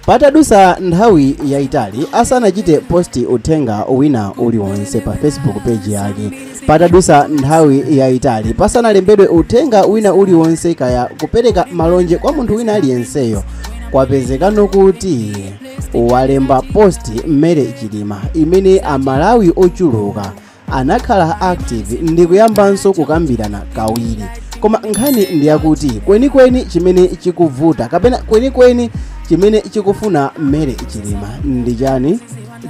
patadusa nthawi yayitali asanachite posti uthenga wina uliwonse pa facebook page yake patadusa nthawi yayitali pasanalembedwe uthenga wina uliwonse kaya kupereka malonje kwa munthu wina aliyenseyo kwapezekano kuti walemba posti Mary Chilima imene amalawi ochuluka anakhala active ndikuyambanso kukambirana kawiri koma nkhani ndiyakuti kwenikweni chimene chikuvuta kapena kwenikweni chimene chikufuna Mary Chilima ndi chani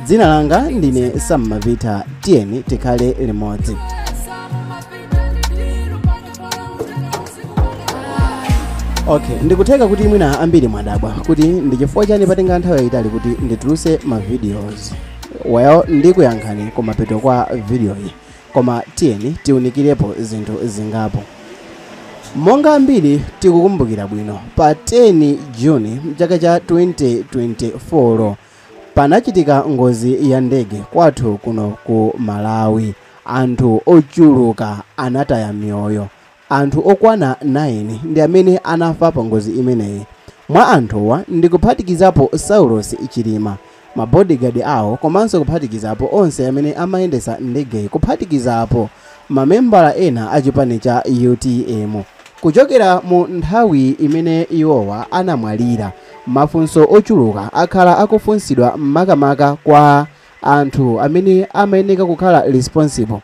dzina langa ndine Sam Mapita tiyeni tikhale limodzi okay ndikutheka kuti mwina ambiri mwadabwa kuti ndi chifukwa chani patenga nthawi yayitali kuti ndituluse ma videos well ndikuyankhani kumapeto kwa vidiyoyi koma tiyeni tiunikirepo zinthu zingapo monga ambiri tikukumbukira bwino pa 10 juni mchaka cha 2024 panachitika ngozi ya ndege kwathu kuno ku malawi anthu ochuluka anataya miyoyo Anthu okwana 9 ndi amene anafa pa ngozi imeneyi. Mwa anthuwa ndikuphatikizapo Saulos Chilima, ma bodyguard awo komanso kuphatikizapo onse amene amayendetsa ndegeyi kuphatikizapo mamembala ena a chipani cha utm. Kuchokera mu nthawi imene iwowa anamwalira, mafunso ochuluka akhala akufunsidwa makamaka kwa anthu amene amayeneka kukhala responsible.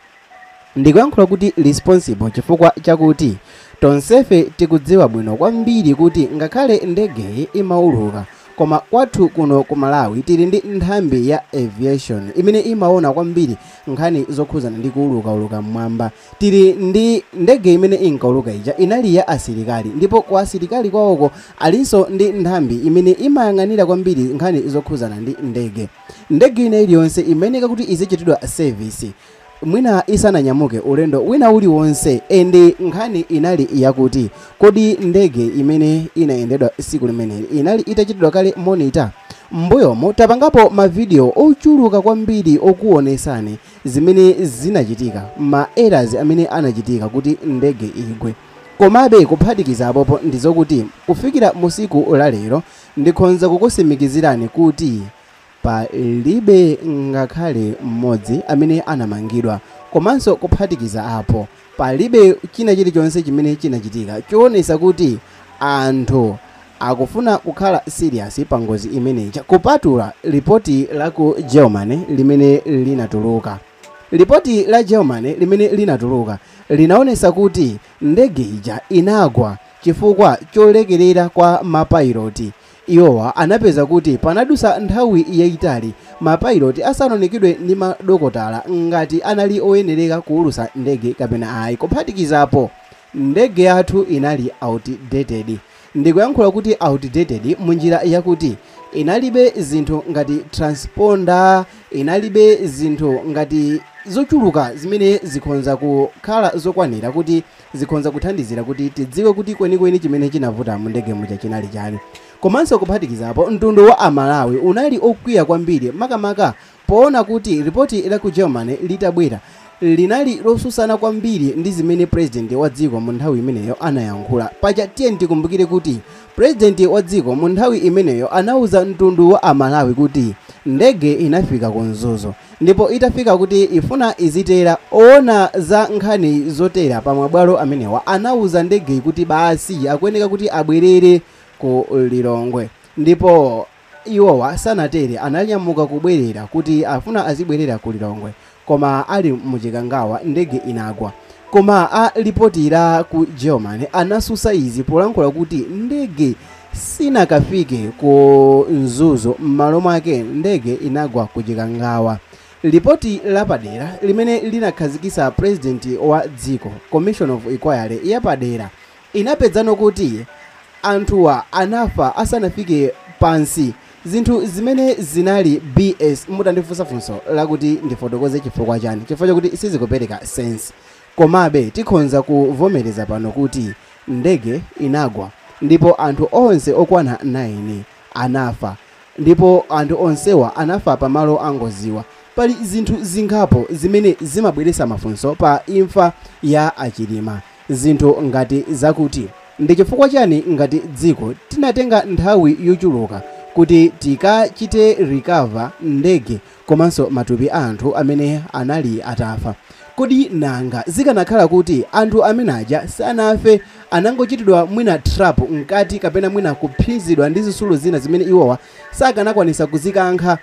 Ndikuyankhula kuti responsible chifukwa chakuti tonsefe tikudziwa bwino kwambiri kuti ngakhale ndegeyi imauluka koma kwathu kuno ku Malawi tili ndi nthambi ya aviation imene imaona kwambiri nkhani zokhuzana ndi kuulukauluka mmwamba. Tili ndi ndege imene inkauluka ija inali ya asilikali ndipo kwa asilikali kwawoko alinso ndi nthambi imene imayang'anira kwambiri nkhani zokhuzana ndi ndege. Ndege ina iliyonse imayeneka kuti izichitidwa service. Mwina isananyamuke ulendo wina uliwonse, and nkhani inali yakuti, kodi ndege imene inayendedwa tsiku limeneli inali itachitidwa kale monitor? M'mbuyomu tapangapo ma video ochuluka kwambiri okuwonetsani zimene zinachitika, ma errors amene anachitika kuti ndege igwe. Komabe kuphatikiza apopo ndizokuti kufikira mu tsiku la lero ndikhonza kukutsimikizirani kuti Palibe ngakhale mmodzi amene anamangidwa. Komanso kuphatikiza apo, palibe china chilichonse chimene chinachitika choonesa kuti anthu akufuna kukhala serious pa ngozi imeneyi kupatula lipoti la ku Germany limene linatuluka. Lipoti la Germany limene linatuluka linaonesa kuti ndege ija inagwa chifukwa cholekerera kwa mapayiloti Iwowa anapeza kuti panadutsa nthawi yaitali mapailoti asanawonekedwe ndi madokotala ngati anali oyenereka kuulutsa ndege kapena ayi. Kuphatikiza apo, ndege yathu inali outdated. Ndikuyankhula kuti outdated munjira yakuti inalibe zinthu ngati transponder, inalibe zinthu ngati zochuluka zimene zikhonza kukhala zokwanira kuti zikhonza kuthandizira kuti tidziwe kuti kwenikweni chimene chinavuta mu ndege muja chinali chani. Komanso kuphatikiza apo, mtundu wa a Malawi unali okwiya kwambiri makamaka poona kuti lipoti la ku Germany litabwera, linali losusana kwambiri ndi zimene president wa dziko mu nthawi imeneyo anayankhula. Paja tiyeni tikumbukire kuti president wa dziko mu nthawi imeneyo anauza mtundu wa a Malawi kuti ndege inafika ku Mzuzu. ndipo itafika kuti ifuna izitera, owona za nkhani zotera pa mabwalo amenewa anauza ndege kuti basi akuyeneka kuti abwerere ku Lilongwe ndipo iwowa sanatere ananyamuka kubwerera kuti afuna azibwerera ku Lilongwe koma ali mu Chikangawa ndege inagwa koma a lipoti la ku Germany anasusa izi polankhula kuti ndege sinakafike ku Mzuzu, m'malo mwake ndege inagwa ku Chikangawa. Lipoti lapadera limene linakhazikitsa president wa dziko, commission of inquiry yapadera, inapezanso kuti anthuwa anafa asanafike pansi, zinthu zimene zinali bs. Mutandifunsa funso lakuti ndifotokoze chifukwa chani, chifukwa chakuti sizikupereka sense. Komabe, tikhonza kuvomereza pano kuti ndege inagwa ndipo anthu onse okwana 9 anafa, ndipo anthu onsewa anafa pa malo a ngoziwa. Pali zinthu zingapo zimene zimabweretsa mafunso pa imfa ya a Chilima, zinthu ngati zakuti, ndi chifukwa chani ngati dziko tinatenga nthawi yochuluka kuti tikachite recover ndege komanso matupi a anthu amene anali atafa. Kodi nanga zikanakhala kuti anthu amene aja sanafe, anangochitidwa mwina trap mkati kapena mwina kuphinjidwa ndi zitsulo zina zimene iwowa sakanakwanitsa kuzikankha,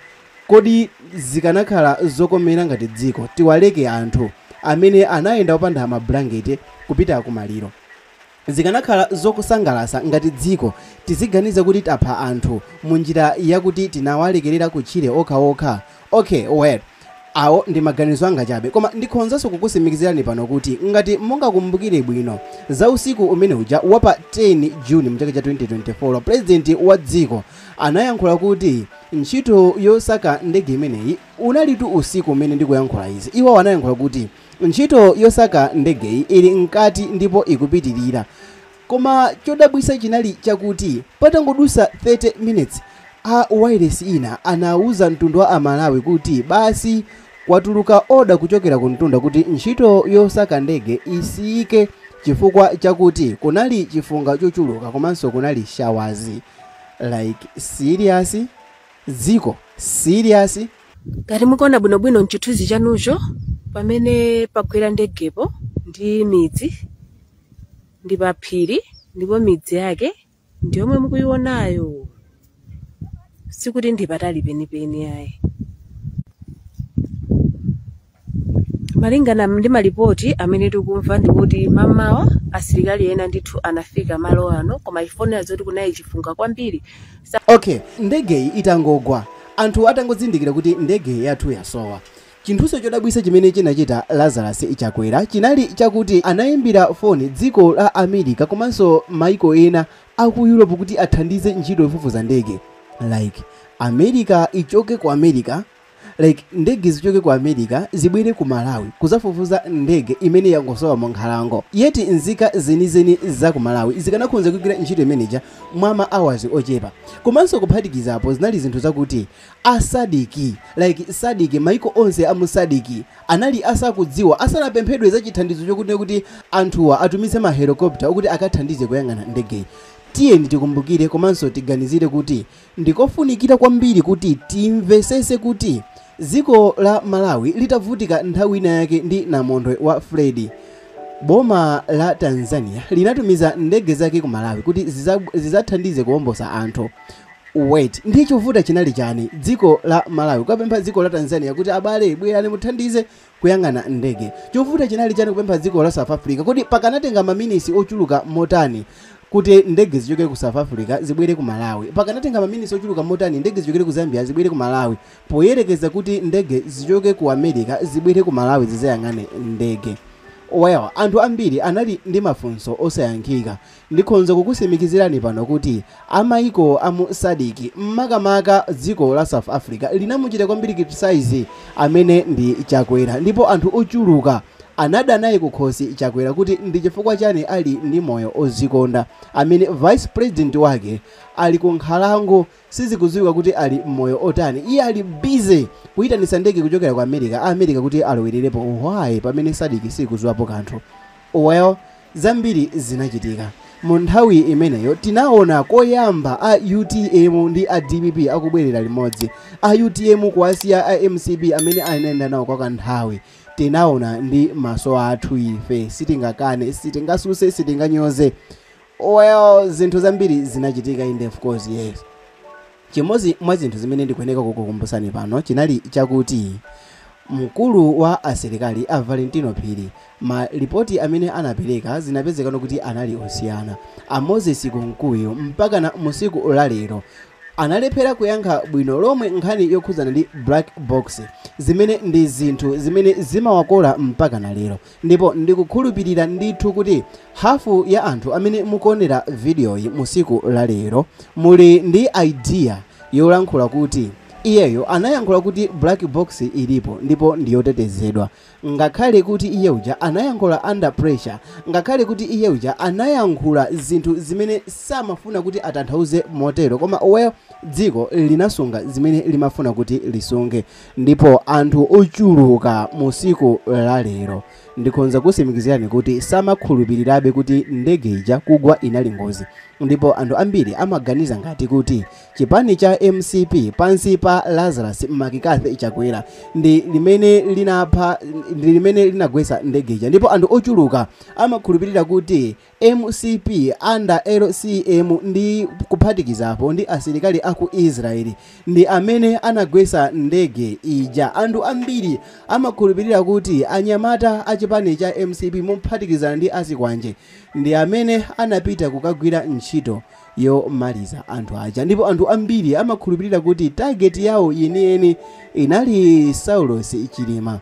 kodi zikanakhala zokomera ngati dziko tiwaleke anthu amene anayenda opanda mablanketi kupita kumaliro? Zikanakhala zokusangalasa ngati dziko tiziganiza kuti tapha anthu munjira yakuti tinawalekerera kutchire okhaokha? Ok well awo ndi maganizo anga chabe koma ndikhonzanso kukusimikizirani pano kuti ngati mungakumbukire bwino za usiku umene uja wa pa 10 June mchaka cha 2024 president wa dziko anayankhula kuti ntchito yosaka ndege imeneyi unalitu usiku umene ndikuyankhula izi iwowo anayankhula kuti Ntchito yosaka ndegeyi ili mkati ndipo ikupitilira koma chodabwisa chinali chakuti patangodusa 30 minutes a wailesi ina anauza mtundu wa amalawi kuti basi kwatuluka order kuchokera kumtunda kuti ntchito yosaka ndege isiyike chifukwa chakuti kunali chifunga chochuluka komanso kunali showers like serious? Dziko serious? Ngati mukuona bwinobwino m'chithunzi chanucho, pamene pagwera ndegepo ndi midzi, ndi paphiri ndipo midzi yake ndi yomwe mukuionayo. Sikuti ndi patali penipeni ayi. malingana ndi malipoti amene tikumva ndikuti mamawa asilikali ena ndithu anafika malo ano koma ifo timva zoti kunali chifunga kwambiri okay ndegeyi itangogwa anthu atangozindikira kuti ndege yathu yasowa chinthunso chodabwisa chimene chinachita lazarus chakwera chinali chakuti anayimbira foni dziko la america komanso maiko ena aku europe kuti athandize ntchito yofufuza ndege like america ichoke ku america like ndege zichoke ku america zibwere ku malawi kuzafufuza ndege imene yangosowa mu nkhalango yet nzika zenizeni za ku malawi zikanakhonza kugwira ntchito imeneja mwa ma hours ochepa komanso kuphatikizapo zinali zinthu zakuti a Sadc like Sadc maiko onse a mu Sadc anali asakudziwa asanapemphedwe za chithandizo chokuti kuti anthuwa atumize mahelikopta okuti akathandize kuyang'ana ndegeyi tiyeni tikumbukire komanso tiganizire kuti Ndikofunikira kwambiri kuti timvesese kuti dziko la Malawi litavutika nthawi ina yake ndi namondwe wa Freddy, boma la Tanzania linatumiza ndege zake ku Malawi kuti zizathandize kuombosa anthu. Wait, nde chovuta chinali chani? Dziko la Malawi kuwapempha dziko la Tanzania kuti abale bwerani muthandize kuyang'ana ndege. Chovuta chinali chani kupempha dziko la South Africa? Kodi pakanatenga maminisi ochuluka motani kuti ndege zichokere ku South Africa zibwere ku Malawi? Pakanatenga maminisi ochuluka motani ndege zichokere ku Zambia zibwere ku Malawi poyerekeza kuti ndege zichoke ku America zibwere ku Malawi zizayang'ane ndege? Well, anthu ambiri anali ndi mafunso osayankhika. Ndikhonza kukusimikizirani pano kuti a maiko a mu Sadc makamaka dziko la South Africa linamuchita kwambiri criticize amene ndi Chakwera ndipo anthu ochuluka anada naye kukhosi Chakwera kuti ndi chifukwa chani ali ndi moyo ozikonda amene vice president wake ali ku nkhalango sizikudziwika kuti ali moyo otani iye ali busy kuitanisa ndege kuchokera ku America a America kuti alowelerepo why pamene Sadc sikudziwapo kanthu Well, zambiri zinachitika mu nthawi imeneyo. Tinaona koyamba a utm ndi a dpp akubwerera limodzi, a utm kuwasiya a mcp amene anayenda nawo kwa kanthawi. Tinaona ndi maso athu ife, sitingakane, sitingasuse, sitinganyoze. Well, zinthu zambiri zinachitika inde of course, yes. Chimodzi mwa zinthu zimene ndikuyeneka kukukumbutsani pano chinali chakuti mkulu wa asilikali a Valentino Phiri, malipoti amene anapeleka zinapezekano kuti anali osiyana. A Moses Kunkuyu mpakana musiku la lero analephera kuyankha bwino lomwe nkhani yokhudzana ndi black box zimene ndi zinthu zimene zimawakola mpakana lero. Ndipo ndikukhulupirira ndithu kuti hafu ya anthu amene mukuonera vidiyoyi mu siku la lero muli ndi idea yolankhula kuti iyeyo anayankhula kuti black box ilipo ndipo ndi yotetezedwa, ngakhale kuti iye uja anayankhula under pressure, ngakhale kuti iye uja anayankhula zinthu zimene samafuna kuti atanthauze motero koma well dziko linasunga zimene limafuna kuti lisunge. ndipo anthu ochuluka mu siku la lero ndikhoza kusimikizirani kuti samakhulupirirabe kuti ndege ija kugwa inali ngozi ndipo anthu ambiri amaganiza ngati kuti chipani cha mcp pansi pa lazarus McCarthy chakwera ndi limene linapha ndi limene linagwetsa ndege ija ndipo anthu ochuluka amakhulupirira kuti Mcp under LCM ndi kuphatikizapo ndi asilikali aku Israel ndi amene anagwesa ndege ija. Anthu ambiri amakhulupilira kuti anyamata a chipani cha mcp mophatikizana ndi azikwanje ndi amene anapita kukagwira ntchito yomaliza anthu aja ndipo anthu ambiri amakhulupilira kuti target yawo yeniyeni inali Saulos Chilima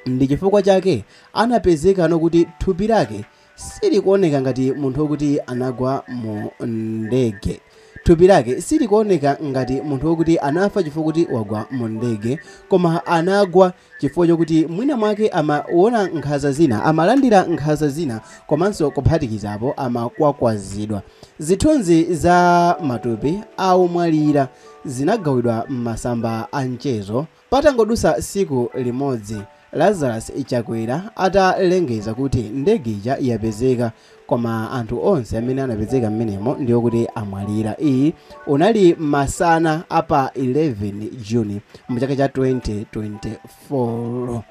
ndi chifukwa chake anapezekano kuti thupi lake Silikuoneka ngati munthu wokuti anagwa mu ndege. Thupi lake silikuoneka ngati munthu wokuti anafa chifukwa kuti wagwa mu ndege, koma anagwa chifukwa chokuti mwina mwake amaona nkhanza zina, amalandira nkhanza zina komanso kuphatikizapo amakwakwazidwa. Zithunzi za matupi a omwalira zinagawidwa m'masamba a nchezo. Patangodutsa tsiku limodzi Lazarus Chakwera atalengeza kuti ndege ija yapezeka koma anthu onse amene anapezeka mmenemo ndi okuti amwalira, iyi unali masana a pa 11 June mu chaka cha 2024.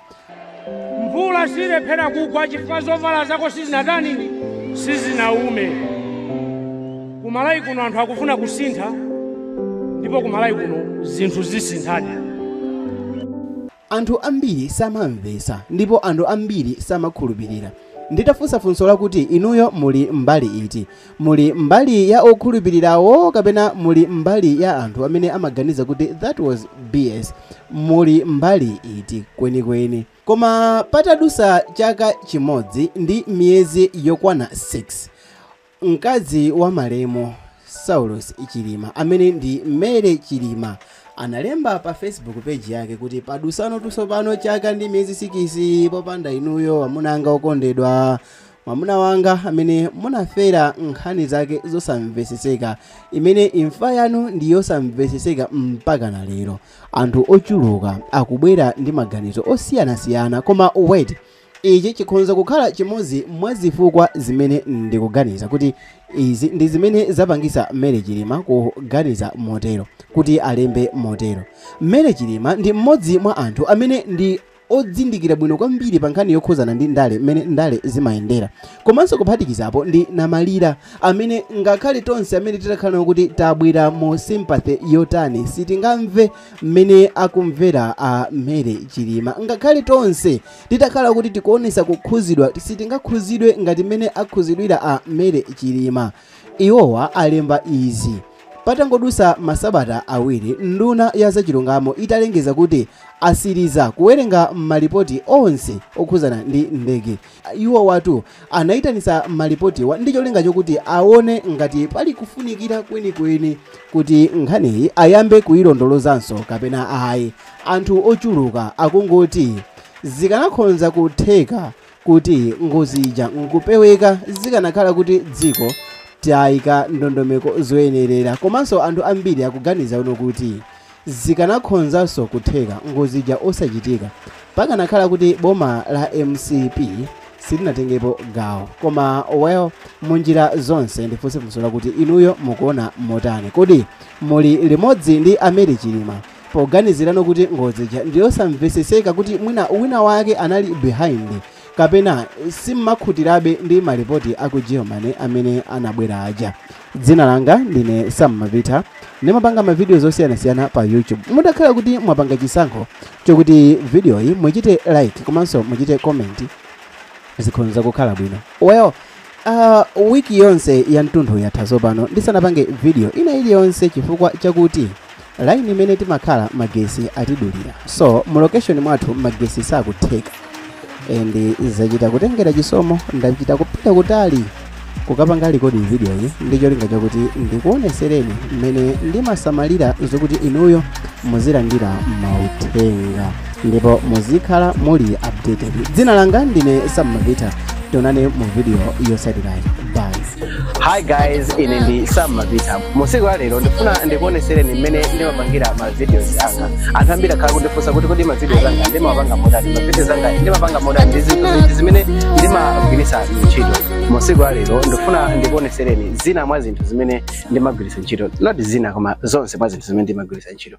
mvula silephera kugwa chifukwa zovala zako sizinatani sizinaume kumalawi kuno anthu akufuna kusintha ndipo kumalawi kuno zinthu zisinthadi anthu ambiri samamvetsa ndipo anthu ambiri samakhulupirira nditafunsa funso lakuti inuyo muli mbali iti Muli mbali ya okhulupirirawo kapena muli mbali ya anthu amene amaganiza kuti that was BS? Muli mbali iti kwenikweni? Koma patadusa chaka chimodzi ndi miyezi yokwana 6, mkazi wa malemu Saulos Chilima amene ndi Mary Chilima analemba pa Facebook page yake kuti padusano tsopano chaka ndi miyezi sikisi popanda inuyo amuna anga okondedwa. Mwamuna wanga amene munafera nkhani zake zosamveseseka, imene imfa yanu ndi yosamveseseka mpaka na lero. Anthu ochuluka akubwera ndi maganizo osiyanasiyana, koma wait, ichi chikhonza kukhala chimodzi mwa zifukwa zimene ndikuganiza kuti izi ndi zimene zapangisa Mary Chilima kuganiza motero, kuti alembe motero. Mary Chilima ndi mmodzi mwa anthu amene ndi odzindikira bwino kwambiri pa nkhani yokhuzana ndi ndale mmene ndale zimayendera komanso kuphatikizapo ndi namalira amene ngakhale tonse amene titakhalano kuti tabwera mu sympathy yotani sitingamve mmene akumvera a mary chilima ngakhale tonse titakhala kuti tikuonesa kukhuzidwa sitingakhuzidwe ngati mmene akhuzidwira a mary chilima Iwowa alemba izi patangodutsa masabata awiri nduna ya zachilungamo italengeza kuti asiliza kuwerenga malipoti onse okhuzana ndi ndege. Iwowatu anaitanisa malipotiwa ndi cholinga chokuti awone ngati pali kufunikira kwenikweni kuti nkhaniyi ayambe kuilondolozanso kapena ayi. Anthu ochuluka akungoti zikanakhonza kutheka kuti ngozi ija nkupeweka zikanakhala kuti dziko taika ndondomeko zoyenerera komanso anthu ambiri akuganizano kuti zikanakhonzanso kutheka ngozi ija osachitika pakanakhala kuti boma la mcp silinatengepo gawo koma well munjira zonse ndifunse funso lakuti inuyo mukuona motani kodi muli limodzi ndi a mary chilima poganizirano kuti ngozi ija ndiyosamveseseka kuti mwina wina wake anali behind kapena simmakhutirabe ndi malipoti a ku germany amene anabwera aja dzina langa ndine sam mavita ndimapanga mavidiyo zosiyanasiyana pa youtube mutakhala kuti mwapanga chisankho chokuti vidiyoyi muchite like komanso muchite comment zikhonza kukhala bwino well Ah, wiki yonse ya ntunthu yatha tsopano ndisanapange video ina iliyonse chifukwa chakuti laini imene timakhala magesi atidulira so mu location mwathu magesi sakutheka and zachita kutengera chisomo ndachita kupita kutali kukapanga rekodi video iyi ndi cholinga chakuti ndikuonesereni mmene ndimasamalira zokuti inuyo muzilandira mauthenga ndipo muzikhala muli updated dzina langa ndine sam mapita tionane mu video yotsatirayi bye hi guys ine ndi sam mapita musiku la lero ndifuna ndikuonesereni mmene ndimapangira ma videos anga anthu ambiri akhala kundifunsa kuti kodi ma videos anga ndimapanga motani ma videos anga ndimapanga motani ndi zinthu ziti zimene ndimagwiritsa ntchito musiku la lero ndifuna ndikuonesereni zina mwa zinthu zimene ndimagwiritsa ntchito not zina koma zonse mwa zinthu zimene ndimagwiritsa ntchito